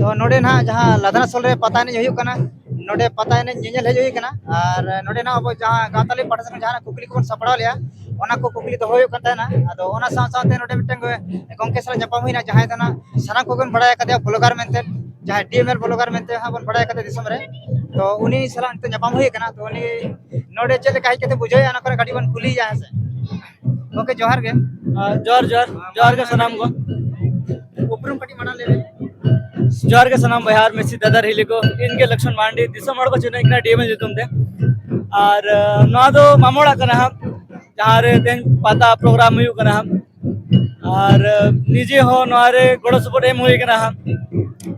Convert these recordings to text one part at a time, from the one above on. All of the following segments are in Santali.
ᱛᱚ ᱱᱚᱰᱮ ᱱᱟᱦᱟᱜ ᱡᱟᱦᱟᱸ ᱞᱟᱫᱟᱱᱟ ᱥᱚᱞ ᱨᱮ ᱯᱟᱛᱟ ᱮᱱᱮᱡ ᱦᱩᱭᱩᱜ ᱠᱟᱱᱟ ᱱᱚᱰᱮ ᱯᱟᱛᱟ ᱮᱱᱮᱡ ᱧᱮᱧᱮᱞ ᱦᱮᱡ ᱦᱩᱭ ᱠᱟᱱᱟ ᱟᱨ ᱱᱚᱰᱮ ᱱᱟᱦᱟᱜ ᱟᱵᱚ ᱡᱟᱦᱟᱸ ᱜᱟᱶᱛᱟᱞᱤ ᱯᱟᱦᱴᱟ ᱥᱮᱫ ᱠᱷᱚᱱ ᱡᱟᱦᱟᱱᱟᱜ ᱠᱩᱠᱞᱤ ᱠᱚᱵᱚᱱ ᱥᱟᱯᱲᱟᱣ ᱞᱮᱜᱼᱟ ᱚᱱᱟ ᱠᱚ ᱠᱩᱠᱞᱤ ᱫᱚᱦᱚ ᱦᱩᱭᱩᱜ ᱠᱟᱱ ᱛᱟᱦᱮᱱᱟ ᱟᱫᱚ ᱚᱱᱟ ᱥᱟᱶ ᱥᱟᱶᱛᱮ ᱱᱚᱰᱮ ᱢᱤᱫᱴᱟᱝ ᱜᱚᱢᱠᱮ ᱥᱟᱞᱟᱜ ᱧᱟᱯᱟᱢ ᱦᱩᱭᱱᱟ ᱡᱟᱦᱟᱸᱭ ᱫᱚ ᱱᱟᱦᱟᱜ ᱥᱟᱱᱟᱢ ᱠᱚᱜᱮᱵᱚᱱ ᱵᱟᱲᱟᱭ ᱠᱟᱫᱮᱭᱟ ᱵᱞᱚᱜᱟᱨ ᱢᱮᱱᱛᱮ ᱡᱟᱦᱟᱸᱭ ᱰᱤ ᱮᱢ ᱮᱞ ᱵᱞᱚᱜᱟᱨ ᱢᱮᱱᱛᱮ ᱦᱟᱸᱜ ᱵᱚᱱ ᱵᱟᱲᱟᱭ ᱠᱟᱫᱮ ᱫᱤᱥᱚᱢ ᱨᱮ ᱛᱚ ᱩᱱᱤ ᱥᱟᱞᱟᱜ ᱱᱤᱛᱚᱜ ᱧᱟᱯᱟᱢ ᱦᱩᱭ ᱠᱟᱱᱟ ᱛᱚ ᱩᱱᱤ ᱱᱚᱰᱮ ᱪᱮᱫ ᱞᱮᱠᱟ ᱦᱮᱡ ᱠᱟᱛᱮ ᱵᱩᱡᱷᱟᱹᱣᱮᱜᱼᱟ ᱚᱱᱟ ᱠᱚᱨᱮ ᱠᱟᱹᱴᱤᱡ ᱵᱚᱱ ᱠᱩᱞᱤᱭᱮᱭᱟ ᱦᱮᱸ ᱥᱮ ᱜᱚᱢᱠᱮ ᱡᱚᱦᱟᱨ ᱜᱮ ᱡᱚᱦᱟᱨ ᱡᱚᱦᱟᱨ ᱡᱚᱦᱟᱨ ᱜᱮ ᱥᱟᱱᱟᱢ ᱠᱚ ᱩᱯᱨᱩᱢ ᱠᱟᱹᱴᱤᱡ ᱢᱟᱲᱟᱝ ᱞᱟᱹᱭ ᱡᱚᱦᱟᱨ ᱜᱮ ᱥᱟᱱᱟᱢ ᱵᱚᱭᱦᱟ ᱢᱮᱥᱤ ᱫᱟᱫᱟ ᱦᱤᱞᱤ ᱠᱚ ᱤᱧ ᱜᱮ ᱞᱚᱠᱥᱢᱚᱱ ᱢᱟᱱᱰᱤ ᱫᱤᱥᱚᱢ ᱦᱚᱲ ᱠᱚ ᱪᱤᱱᱦᱟᱹ ᱠᱟᱱᱟ ᱰᱤᱮᱢᱮᱞ ᱧᱩᱛᱩᱢ ᱛᱮ ᱟᱨ ᱱᱚᱣᱟ ᱫᱚ ᱢᱟᱢᱚᱲᱟᱜ ᱠᱟᱱᱟ ᱦᱟᱸᱜ ᱡᱟᱦᱟᱸ ᱨᱮ ᱛᱮᱦᱮᱧ ᱯᱟᱛᱟ ᱯᱨᱳᱜᱨᱟᱢ ᱦᱩᱭᱩᱜ ᱠᱟᱱᱟ ᱦᱟᱸᱜ ᱟᱨ ᱱᱤᱡᱮ ᱦᱚᱸ ᱱᱚᱣᱟ ᱨᱮ ᱜᱚᱲᱚ ᱥᱚᱯᱚᱦᱚᱫ ᱮᱢ ᱦᱩᱭ ᱠᱟᱱᱟ ᱦᱟᱸᱜ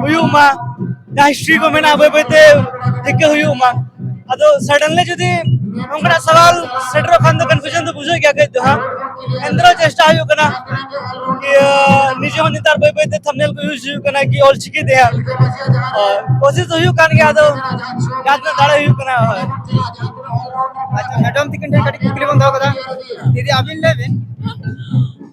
ᱦᱩᱭᱩᱜ ᱢᱟ ᱡᱟᱦᱟᱸ ᱦᱤᱥᱴᱨᱤ ᱠᱚ ᱢᱮᱱᱟᱜᱼᱟ ᱵᱟᱹᱭ ᱵᱟᱹᱭᱛᱮ ᱴᱷᱤᱠᱟᱹ ᱦᱩᱭᱩᱜ ᱢᱟ ᱟᱫᱚ ᱥᱟᱰᱮᱱᱞᱤ ᱡᱩᱫᱤ ᱱᱚᱝᱠᱟᱱᱟᱜ ᱥᱟᱣᱟᱞ ᱥᱮᱴᱮᱨᱚᱜ ᱠᱷᱟᱱ ᱫᱚ ᱠᱚᱱᱯᱷᱤᱭᱩᱡᱚᱱ ᱫᱚ ᱵᱩᱡᱷᱟᱹᱜ ᱜᱮᱭᱟ ᱠᱟᱹᱡ ᱫᱚ ᱦᱟᱸᱜ ᱮᱱᱛᱮᱨᱮᱦᱚᱸ ᱪᱮᱥᱴᱟ ᱦᱩᱭᱩᱜ ᱠᱟᱱᱟ ᱤᱭᱟᱹ ᱱᱤᱡᱮ ᱦᱚᱸ ᱱᱮᱛᱟᱨ ᱵᱟᱹᱭ ᱵᱟᱹᱭᱛᱮ ᱛᱷᱟᱢᱱᱮᱞ ᱠᱚ ᱤᱭᱩᱡᱽ ᱦᱩᱭᱩᱜ ᱠᱟᱱᱟ ᱠᱤ ᱚᱞ ᱪᱤᱠᱤ ᱛᱮ ᱦᱟᱸᱜ ᱦᱳᱭ ᱠᱳᱥᱤᱥ ᱫᱚ ᱦᱩᱭᱩᱜ ᱠᱟᱱ ᱜᱮᱭᱟ ᱟᱫᱚ ᱡᱟᱦᱟᱸ ᱛᱤᱱᱟᱹᱜ ᱫᱟᱲᱮ ᱦᱩᱭᱩᱜ ᱠᱟᱱᱟ ᱦᱳᱭ ᱟᱪᱪᱷᱟ ᱢᱮᱰᱟᱢ ᱛᱤᱠᱤᱱ ᱴᱷᱮᱱ ᱠᱟᱹᱴᱤᱡ ᱠᱩᱠᱞᱤ ᱵᱚᱱ ᱫᱚᱦᱚ ᱠᱟᱫᱟ ᱫᱤᱫᱤ ᱟᱹᱵᱤᱱ ᱞᱟᱹᱭ ᱵᱤᱱ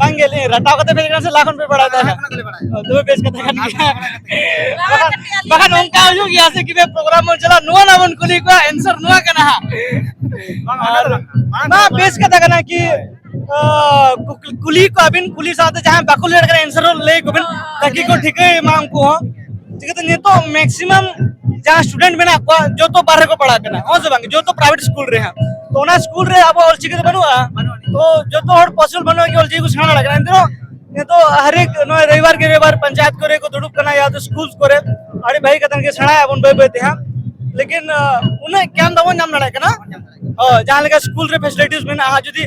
ᱵᱟᱝ ᱜᱮ ᱞᱤᱧ ᱨᱟᱴᱟᱣ ᱠᱟᱛᱮ ᱯᱮ ᱠᱟᱱᱟ ᱥᱮ ᱞᱟᱦᱟ ᱠᱷᱚᱱ ᱯᱮ ᱵᱟᱲᱟᱭ ᱛᱟᱦᱮᱱᱟ ᱫᱚᱢᱮ ᱵᱮᱥ ᱠᱟᱛᱷᱟ ᱠᱟᱱ ᱜᱮᱭᱟ ᱵᱟᱠᱷᱟᱱ ᱚᱱᱠᱟ ᱦᱩᱭᱩᱜ ᱜᱮᱭᱟ ᱥᱮ ᱠᱤᱵᱮ ᱯᱨᱳᱜᱨᱟᱢ ᱵᱚᱱ ᱪᱟᱞᱟᱜ ᱱᱚᱣᱟ ᱱᱟ ᱵᱚᱱ ᱠᱩᱞᱤ ᱠᱚᱣᱟ ᱮᱱᱥᱟᱨ ᱱᱚᱣᱟ ᱠᱟᱱᱟ ᱦᱟᱸᱜ ᱵᱟᱝ ᱵᱮᱥ ᱠᱟᱛᱷᱟ ᱠᱟᱱᱟ ᱠᱤ ᱠᱩᱞᱤ ᱠᱚᱣᱟᱵᱤᱱ ᱠᱩᱞᱤ ᱥᱟᱶᱛᱮ ᱡᱟᱦᱟᱸᱭ ᱵᱟᱠᱚ ᱞᱟᱹᱭ ᱫᱟᱲᱮᱭᱟᱜ ᱠᱟᱱᱟ ᱮᱱᱥᱟᱨ ᱦᱚᱸ ᱞᱟᱹᱭ ᱟᱠᱚᱵᱤᱱ ᱛᱟᱠᱤ ᱠᱚ ᱴᱷᱤᱠᱟᱹᱭ ᱢᱟ ᱩᱱᱠᱩ ᱦᱚᱸ ᱪᱤᱠᱟᱹᱛᱮ ᱱᱤᱛᱚᱜ ᱢᱮᱠᱥᱤᱢᱟᱢ ᱡᱟᱦᱟᱸ ᱥᱴᱩᱰᱮᱱᱴ ᱢᱮᱱᱟᱜ ᱠᱚᱣᱟ ᱡᱚᱛᱚ ᱵᱟᱨᱦᱮ ᱠᱚ ᱯᱟᱲᱦᱟᱜ ᱠᱟᱱᱟ ᱦᱚᱸ ᱥᱮ ᱵᱟᱝ ᱡᱚᱛᱚ ᱯᱨᱟᱭᱵᱷᱮᱴ ᱥᱠᱩᱞ ᱨᱮ ᱦᱟᱸᱜ ᱛᱚ ᱚᱱᱟ ᱥᱠᱩᱞ ᱨᱮ ᱟᱵᱚ ᱚᱞᱪᱤᱠᱤ ᱫᱚ ᱵᱟᱹᱱᱩᱜᱼᱟ ᱛᱚ ᱡᱚᱛᱚ ᱦᱚᱲ ᱯᱚᱥᱤᱵᱚᱞ ᱵᱟᱹᱱᱩᱜᱼᱟ ᱠᱤ ᱚᱞᱪᱤᱠᱤ ᱠᱚ ᱥᱮᱬᱟ ᱫᱟᱲᱮᱭᱟᱜ ᱠᱟᱱᱟ ᱮᱱᱛᱮᱦᱚᱸ ᱱᱤᱛᱚᱜ ᱦᱟᱨᱮᱠ ᱱᱚᱜᱼᱚᱭ ᱨᱚᱵᱤᱵᱟᱨ ᱠᱮ ᱨᱚᱵᱤᱵᱟᱨ ᱯᱚᱧᱪᱟᱭᱮᱛ ᱠᱚᱨᱮ ᱠᱚ ᱫᱩᱲᱩᱵ ᱠᱟᱱᱟ ᱭᱟ ᱛᱚ ᱥᱠᱩᱞ ᱠᱚᱨᱮ ᱟᱹᱰᱤ ᱵᱷᱟᱹᱜᱤ ᱠᱟᱛᱷᱟ ᱜᱮ ᱥᱮᱬᱟᱭᱟᱵᱚᱱ ᱵᱟᱹᱭ ᱵᱟᱹᱭ ᱛᱮ ᱦᱟᱸᱜ ᱞᱮᱠᱤᱱ ᱩᱱᱟᱹᱜ ᱜᱮᱭᱟᱱ ᱵᱟᱵᱚᱱ ᱧᱟᱢ ᱫᱟᱲᱮᱭᱟᱜ ᱠᱟᱱᱟ ᱡᱟᱦᱟᱸ ᱞᱮᱠᱟ ᱥᱠᱩᱞ ᱨᱮ ᱯᱷᱮᱥᱤᱞᱤᱴᱤᱥ ᱢᱮᱱᱟᱜᱼᱟ ᱡᱩᱫᱤ